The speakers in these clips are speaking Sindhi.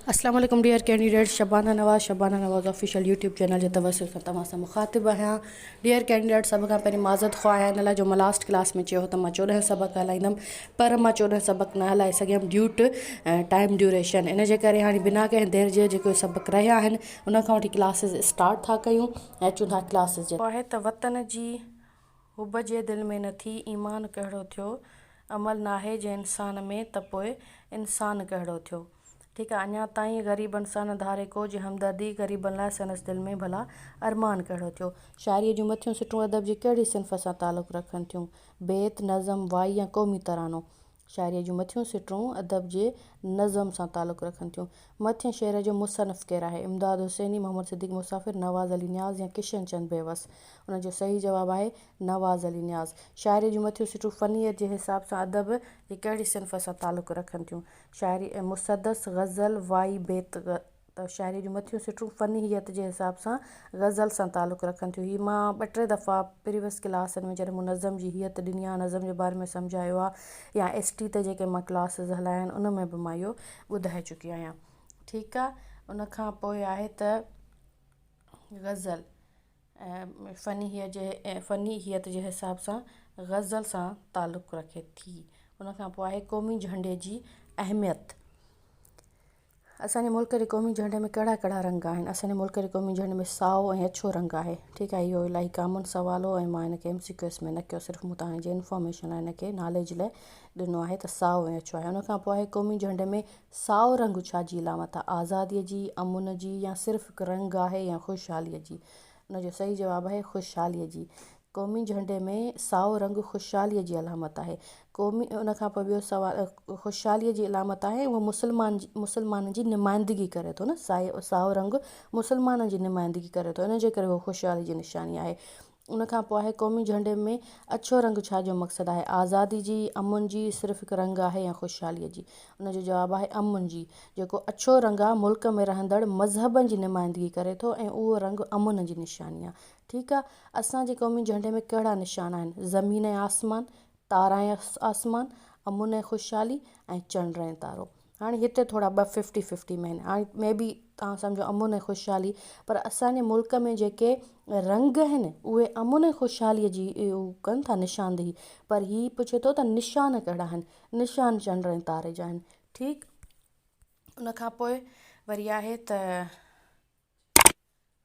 اسلام عليڪم dear candidates Shabana Nawaz Shabana Nawaz official YouTube channel جي توسط سان توهان سان مخاطب آهيان ڊيئر ڪينڊيڊيٽس سڀ کان پهرين معذرت خواه آهيان ان لاء جو مان لاسٽ ڪلاس ۾ چيو هو ته مان چوڏهن سبق هلائيندم پر مان چوڏهن سبق نه هلائي سگهيم ڊيو ٽو ٽائيم ڊيوريشن ان جي ڪري هاڻي بنا ڪنهن دير جي جيڪي سبق رهيا آهن ان کان وٺي ڪلاسز اسٽارٽ ٿا ڪيون ۽ اچون ٿا ڪلاسز جي آهي ته وطن جي حب جي دل ۾ نه ٿي ايمان ڪهڙو ٿيو عمل ناهي جي انسان ۾ ته پوء انسان ڪهڙو ٿيو ٺيڪ آهي اڃان تائين غريبن سان نه ڌاري ڪو جي همدردي غريبن لاء سندس دل ۾ ڀلا ارمان ڪهڙو ٿيو. شاعريء جون مٿيون سٽون ادب جي ڪهڙي صنف سان تعلق رکن ٿيون، بيت، نظم، وائي يا قومي ترانو؟ شاعريء جون مٿيون سٽون ادب جي نظم سان تعلق رکن ٿيون. مٿين شعر جو مصنف ڪير آهي؟ امداد حسيني، محمد صديق مسافر، نواز علي نياز يا ڪشن چند بيوس؟ ان جو صحيح جواب آهي نواز علي نياز. شاعريء جون مٿيون سٽون فنيت جي حساب سان ادب جي ڪهڙي صنف سان تعلق رکن ٿيون؟ شاعري ۽ مسدس، غزل، وائي، بيت، ته شاعريء جون مٿيون سٽون فنيت جي حساب سان غزل سان تعلق رکن ٿيون. هي مان ٻه ٽي دفعا پريويس ڪلاسن ۾ جڏهن مون نظم جي هيئت ڏني آهي، نظم جي باري ۾ سمجهايو آهي يا ايس ٽي تي جيڪي مان ڪلاسز هلايا آهن ان ۾ به مان اهو ٻڌائي چڪي آهيان. ٺيڪ آهي ان کان پوء آهي ته غزل ۽ فنيت جي فنيت جي حساب سان غزل سان تعلق رکي ٿي. ان کان پوء آهي قومي جهنڊي جي اهميت. اسان جي ملڪ جي قومي جهنڊي ۾ ڪهڙا ڪهڙا رنگ آهن اسان جي ملڪ جي قومي جهنڊي ۾ سائو ۽ اڇو رنگ آهي ٺيڪ آهي اهو الاهي ڪامن سوال هو ۽ مان هن کي ايم سي ڪيو ايس ۾ نه ڪيو صرف مون توهان جي انفارميشن لاء هن کي ناليج لاء ڏنو آهي ته سائو ۽ اڇو آهي ان کان پوء آهي قومي جهنڊي ۾ سائو رنگ ڇا جي علامت آهي آزادي جي امن جي يا صرف هڪ رنگ آهي يا خوشحالي جي ان جو صحيح جواب آهي خوشحالي جي قومي جهنڊي ۾ سائو رنگ خوشحاليء جي علامت آهي. قومي ان کان پوء ٻيو سوال خوشحاليء جي علامت آهي اهو مسلمان مسلمانن جي نمائندگي ڪري ٿو نه سائي سائو رنگ مسلمانن جي نمائندگي ڪري ٿو ان جي ڪري اهو خوشحالي جي نشاني آهي ان کان پوء آهي قومي جهنڊي ۾ اڇو رنگ ڇا جو مقصد آهي آزادي جي امن جي صرف هڪ رنگ آهي يا خوشحالي جي ان جو جواب آهي امن جي جيڪو اڇو رنگ آهي ملڪ ۾ رهندڙ مذهبن جي نمائندگي ڪري ٿو ۽ اهو رنگ امن جي نشاني آهي ٺيڪ آ اسان جي قومي جهنڊي ۾ ڪهڙا نشان آهن زمين ۽ آسمان تارا ۽ آسمان امن ۽ خوشحالي ۽ چنڊ ۽ تارو هاڻي هتي ٿورا ٻه ففٽي ففٽي مين آهن مي بي تهان سمجهو امن ۽ خوشحالي پر اسان جي ملڪ ۾ جيڪي رنگ آهن اهي امن ۽ خوشحالي جي هو ڪن ٿا نشاندهي پر هي پڇي ٿو ته نشان ڪهڙا آهن نشان چنڊ ۽ تاري جا آهن ٺيڪ ان کان پوء وري آهي ته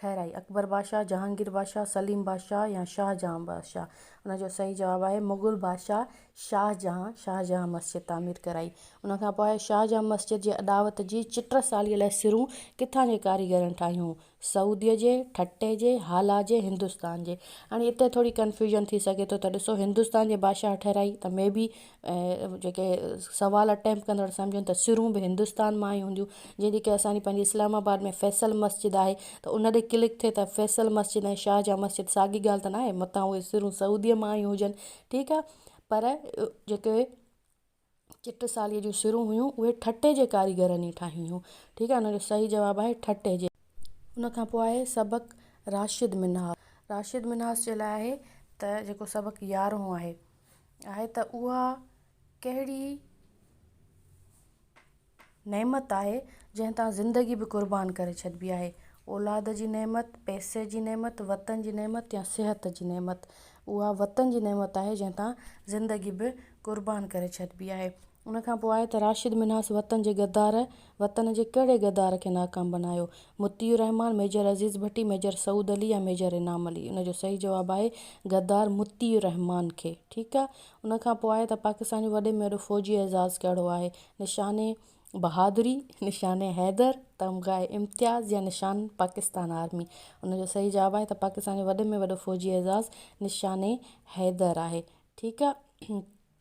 ٺهرائي، اڪبر بادشاهه، جهانگير بادشاهه، سليم بادشاهه يا شاهه جهان بادشاهه؟ ان جو صحيح جواب آهي مغل بادشاهه شاهه جهان، شاهه جهان مسجد تعمير ڪرائي. ان کان پوء شاهه جهان مسجد جي اڏاوت جي چٽرساليء لاء سرون ڪٿان جي ڪاريگرن ٺاهيون؟ سعوديء جي، ٺٽي جي، هالا جي، هندستان جي؟ هاڻي اتي ٿوري ڪنفيوزن ٿي سگهي ٿو ته ڏسو هندستان جي بادشاهه ٺهرائي ته مي بي ۽ جيڪي سوال اٽيمپٽ ڪندڙ سمجهن ته سرون به هندستان مان ئي هونديون جيئن جيڪي اسانجي پنهنجي اسلام آباد ۾ فيصل مسجد آهي ته ان تي ڪلڪ ٿئي ته فيصل مسجد ۽ شاهه جهان مسجد ساڳي ڳالهه ته ناهي متان اهي سرون سعودي مان آيون هجن ٺيڪ آهي پر جيڪي چٽسالي جون سرون هيون اهي ٺٽي جي ڪاريگرن ئي ٺاهيون هيون ٺيڪ آهي ان جو صحيح جواب آهي ٺٽي جي. ان کان پوء آهي سبق راشد منهاج راشد منهاج جي لاء آهي ته جيڪو سبق يارهون آهي. آهي ته اها ڪهڙي نعمت آهي جنهن تان زندگي به قربان ڪري ڇڏبي آهي. اولاد جي نعمت، پئسي جي نعمت، وطن جي نعمت يا صحت جي نعمت. اها وطن جي نعمت آهي جنهن تان زندگي به قربان ڪري ڇڏبي آهي. ان کان پوء آء ته راشد منهاس وطن جي غدار، وطن جي ڪهڙي غدار کي ناڪام بنايو؟ مطيع الرحمان، ميجر عزيز ڀٽي، ميجر سعود علي يا ميجر انعام علي؟ ان جو صحيح جواب آهي غدار مطيع الرحمان کي. ٺيڪ آ. ان کان پوء آء ته پاڪستان جو وڏي ۾ وڏو فوجي اعزاز ڪهڙو آهي؟ نشان بهادري، نشان حيدر، تمغه امتياز يا نشان پاڪستان آرمي؟ ان جو صحيح جواب آهي ته پاڪستان جو وڏي ۾ وڏو فوجي اعزاز نشان حيدر آهي. ٺيڪ آ.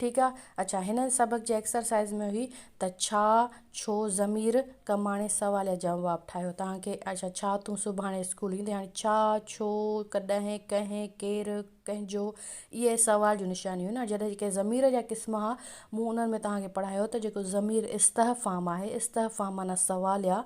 ٺيڪ آ اڇا هن سبق جي ايڪسرسائيز ۾ هئي ته ڇا ڇو ضمير ڪماڻي سوال يا جواب ٺاهيو تهان کي اڇا ڇا تون سڀاڻي اسڪول ايندي هاڻي ڇا ڇو ڪڏهن ڪنهن ڪير ڪنهنجو اهي سوال جون نشانيون هيون نا جڏهن جيڪي ضمير جا قسم ها مون انهن ۾ تهان کي پڙهايو ته جيڪو ضمير استهفام آهي استهفام معنيٰ سوال يا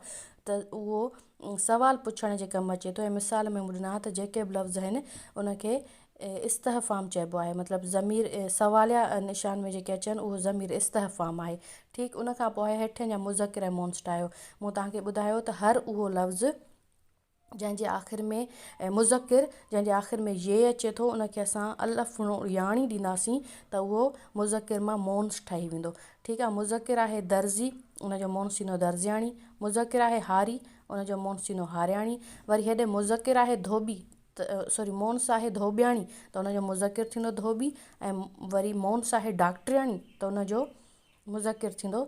ته اهو سوال پڇڻ جي ڪم اچي ٿو ۽ مثال ۾ مون ڏنا ها ته جيڪي به لفظ آهن ان کي استحفام چئبو آهي مطلب ضمير سواليه نشان ۾ جيڪي اچن اهو ضمير استحفام آهي ٺيڪ ان کان پوء آهي هيٺين جا مذڪر ۽ مونسٽ آهيو مون توهان کي ٻڌايو ته هر اهو لفظ جنهن جي آخر ۾ مذڪر جنهن جي آخر ۾ يي اچي ٿو ان کي اسان الف ياڻي ڏينداسين ته اهو مذڪر مان مونس ٺهي ويندو ٺيڪ آهي مذڪر آهي درزي ان جو مونس ٿيندو درزياڻي مذڪر آهي هاري ان جو مونس ٿيندو هارياڻي وري هيڏي مذڪر آهي ڌوٻي سوري مون ساهي ڌوٻياڻي ته ان جو مذڪر ٿيندو ڌوٻي ۽ وري مون ساهي ڊاڪٽرياڻي ته ان جو مذڪر ٿيندو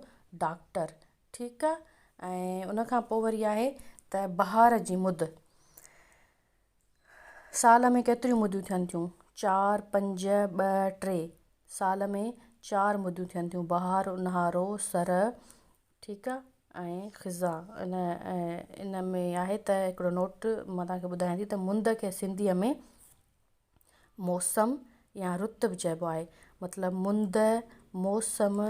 ڊاڪٽر ٺيڪ آ ۽ ان کان پوء وري آهي ته بهار جي مد سال ۾ ڪيتريون مديون ٿين ٿيون چار پنج ٻه ٽي سال ۾ چار مديون ٿين ٿيون بهار اونهارو سرء ٺيڪ آ ۽ خزا ان ان ۾ آهي ته هڪڙو نوٽ مان توهان کي ٻڌايان ٿي ته مند کي سنڌيء ۾ موسم يا رت به چئبو آهي مطلب مند موسم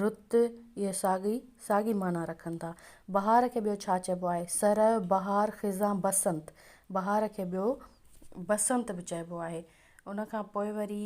رت اهي ساڳي ساڳي معنيٰ رکن ٿا بهار کي ٻيو ڇا چئبو آهي سرء بهار خزان بسنت بهار کي ٻيو بسنت به چئبو آهي ان کان پوء وري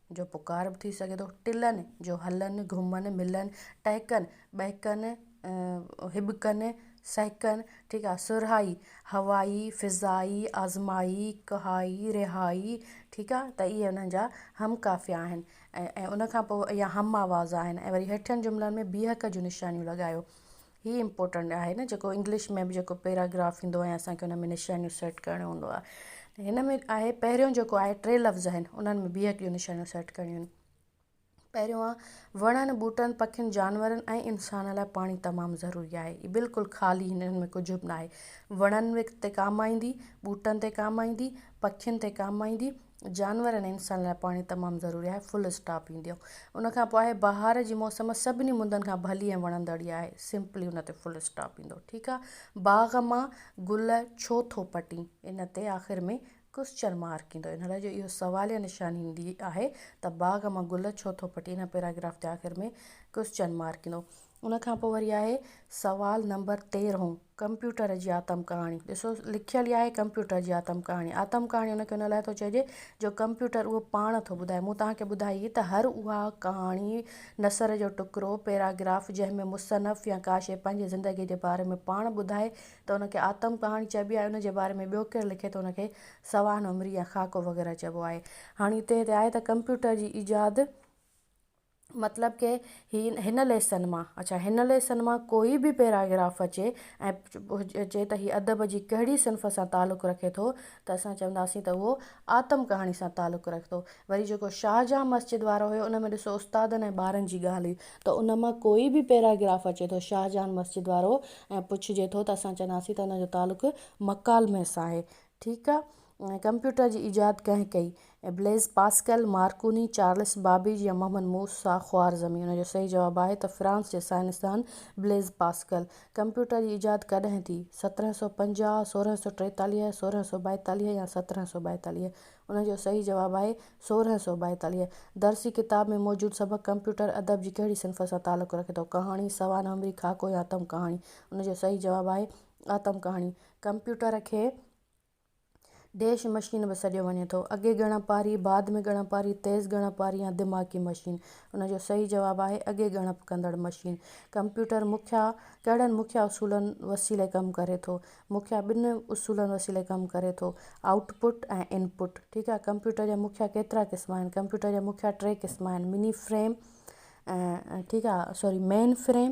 جو پڪار به ٿي سگهي ٿو، ٽلن جو هلن، گهمن، ملن، ٽهڪن، ٻهڪن، هٻڪن، سهڪن، ٺيڪ آهي، سرهائي، هوائي، فضائي، آزمائي، ڪهائي، رهائي، ٺيڪ آهي، ته اهي انهن جا هم قافيا آهن ۽ ان کان پوء اهي هم آواز آهن ۽ وري هيٺين جملن ۾ بيهڪ جون نشانيون لڳايو. هي امپورٽنٽ آهي نه جيڪو انگلش ۾ به جيڪو پيراگراف ٿيندو آهي اسان کي ان ۾ نشانيون سيٽ ڪرڻيون هوندو آهي ته هن ۾ آهي پهريون جيڪو آهي ٽي لفظ آهن انهن ۾ بيهڪ جون نشانيون سيٽ ڪرڻيون آهن پهريون آ وڻن ٻوٽن پکين جانورن ۽ انسان لاء پاڻي تمام ضروري آهي هي بلڪل خالي هنن ۾ ڪجهه به ناهي وڻن تي ڪام آئيندي ٻوٽن تي ڪام آئيندي پکين تي ڪام آئيندي جانور ۽ انسان لاء پاڻي تمام ضروري آهي فل اسٽاپ ايندي آهي ان کان پوء آهي بهار جي موسم سڀني مندن کان ڀلي ۽ وڻندڙ ئي آهي سمپلي ان تي فل اسٽاپ ايندو ٺيڪ آهي باغ مان گل ڇو ٿو پٽين ان تي آخر ۾ ڪوسچن مارڪ ايندو ان لاء جو اهو سواليه نشاني ايندي آهي ته باغ مان گل ڇو ٿو پٽين ان پيراگراف تي آخر ۾ ڪوسچن مارڪ ايندو ان کان پوء وري آهي سوال نمبر تيرهون ڪمپيوٽر جي آتم ڪهاڻي ڏسو لکيل ئي آهي ڪمپيوٽر جي آتم ڪهاڻي آتم ڪهاڻي ان کي ان لاء ٿو چئجي جو ڪمپيوٽر اهو پاڻ ٿو ٻڌائي مون توهان کي ٻڌائي هئي ته هر اها ڪهاڻي نثر جو ٽڪرو پيراگراف جنهن ۾ مصنف يا ڪا شيء پنهنجي زندگي جي باري ۾ پاڻ ٻڌائي ته ان کي آتم ڪهاڻي چئبي آهي ان جي باري ۾ ٻيو ڪير لکي ته ان کي سوانح عمري يا خاڪو وغيره چئبو آهي هاڻي هتي هتي آهي ته ڪمپيوٽر جي ايجاد مطلب ڪي هي هن ليسن مان اڇا هن ليسن مان ڪوئي به پيراگراف اچي ۽ چئي ته هي ادب جي ڪهڙي صنف سان تعلق رکي ٿو ته اسان چونداسين ته اهو آتم ڪهاڻي سان تعلق رکي ٿو وري جيڪو شاهجهان مسجد وارو هيو ان ۾ ڏسو استادن ۽ ٻارن جي ڳالهه هئي ته ان مان ڪوئي به پيراگراف اچي ٿو شاهجهان مسجد وارو ۽ پڇجي ٿو ته اسان چونداسين ته ان جو تعلق مڪالمي سان آهي ٺيڪ آهي ڪمپيوٽر جي ايجاد ڪنهن ڪئي؟ Blaise Pascal, Marconi, Charles Babbage يا محمد موسيٰ خوارزمي؟ ان جو صحيح جواب آهي ته فرانس جي سائنسدان بليز پاسڪل. ڪمپيوٽر جي ايجاد ڪڏهن ٿي؟ سترهن سؤ پنجاهه، سورهن سؤ ٽيتاليهه، سورهن سؤ ٻائيتاليهه يا سترهن سؤ ٻائيتاليهه؟ ان جو صحيح جواب آهي سورهن سؤ ٻائيتاليهه. درسي ڪتاب ۾ موجود سبق ڪمپيوٽر ادب جي ڪهڙي صنف سان تعلق رکي ٿو؟ ڪهاڻي، سوانح عمري، خاڪو يا اتم ڪهاڻي؟ ان جو صحيح جواب آهي اتم ڪهاڻي. ڪمپيوٽر کي ڊيش مشين به سڏيو وڃي ٿو. اڳي ڳڻپاري، بعد ۾ ڳڻپاري، تيز ڳڻپاري يا دماغي مشين. ان جو صحيح جواب آهي، اڳي ڳڻپ ڪندڙ مشين. ڪمپيوٽر مکيه ڪهڙن مکيه اصولن وسيلي ڪم ڪري ٿو؟ مکيه ٻن اصولن وسيلي ڪم ڪري ٿو، آئوٽ پٽ ۽ ان پٽ. ٺيڪ آهي. ڪمپيوٽر جا مکيه ڪيترا قسم آهن؟ ڪمپيوٽر جا مکيه ٽي قسم آهن، مني فريم ٺيڪ آهي سوري مين فريم.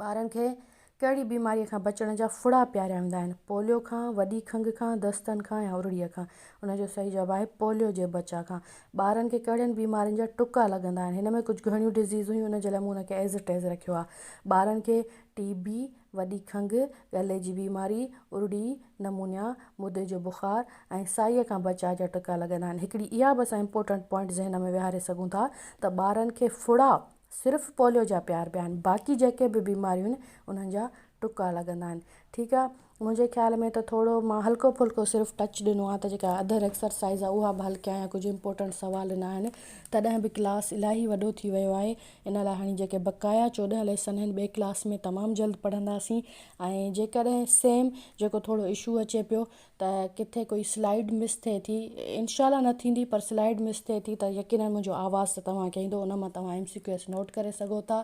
ٻارن کي ڪهڙي بيماريء کان بچڻ جا ڦڙا پياريا ويندا آهن؟ پوليو کان، وڏي کنگهه کان، دستن کان يا ارڙيء کان؟ ان جو صحيح جواب آهي پوليو جي بچاء کان. ٻارن کي ڪهڙين بيمارين جا ٽڪا لڳندا آهن؟ هن ۾ ڪجهه گهڻيون ڊزيز هيون ان جي لاء مون ان کي As It As رکيو آهي. ٻارن کي ٽي بي، وڏي کنگهه، ڳلي جي بيماري، ارڙي، نمونيا، مدي جو بخار ۽ سائيء کان بچاء جا ٽڪا لڳندا آهن. هڪڙي اها به اسان امپورٽنٽ پوائنٽ ذهن ۾ ويهاري سگهون ٿا ته ٻارن کي ڦڙا، صرف پوليو جا پيار پيا آهن باقي جيڪي به بيماريون آهن انهن جا ٽڪا لڳندا آهن ٺيڪ آهي منهنجي خيال ۾ ته ٿورو مان هلڪو ڦلڪو صرف ٽچ ڏنو آهي ته جيڪا اڌر ايڪسرسائيز آهي اها به هلڪي آهي ڪجهه امپورٽنٽ سوال نه آهن تڏهن به ڪلاس الاهي وڏو ٿي ويو آهي ان لاء هاڻي جيڪي بقايا چوڏهن ليسن آهن ٻئي ڪلاس ۾ تمام جلد پڙهنداسين ۽ جيڪڏهن سيم جيڪو ٿورو اشو اچي پيو ته ڪٿي ڪوئي سلائيڊ مس ٿئي ٿي انشاء الله نه ٿيندي پر سلائيڊ مس ٿئي ٿي ته يقينن منهنجو آواز ته توهان کي ايندو ان مان توهان M C Q s note ڪري سگهو ٿا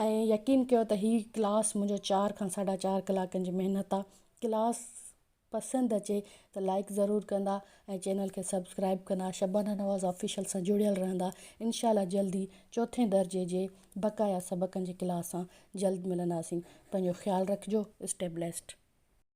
۽ يقين ڪيو ته هي ڪلاس منهنجو چار کان ساڍا چار ڪلاڪن جي محنت آ ڪلاس پسند اچي ته لائڪ ضرور ڪندا ۽ چينل کي سبسڪرائب ڪندا شبانه نواز آفيشل سان جڙيل رهندا انشاء الله جلدي چوٿين درجي جي بقايا سبقن جي ڪلاس سان جلد ملنداسين پنهنجو خيال رکجو اسٽي بليسڊ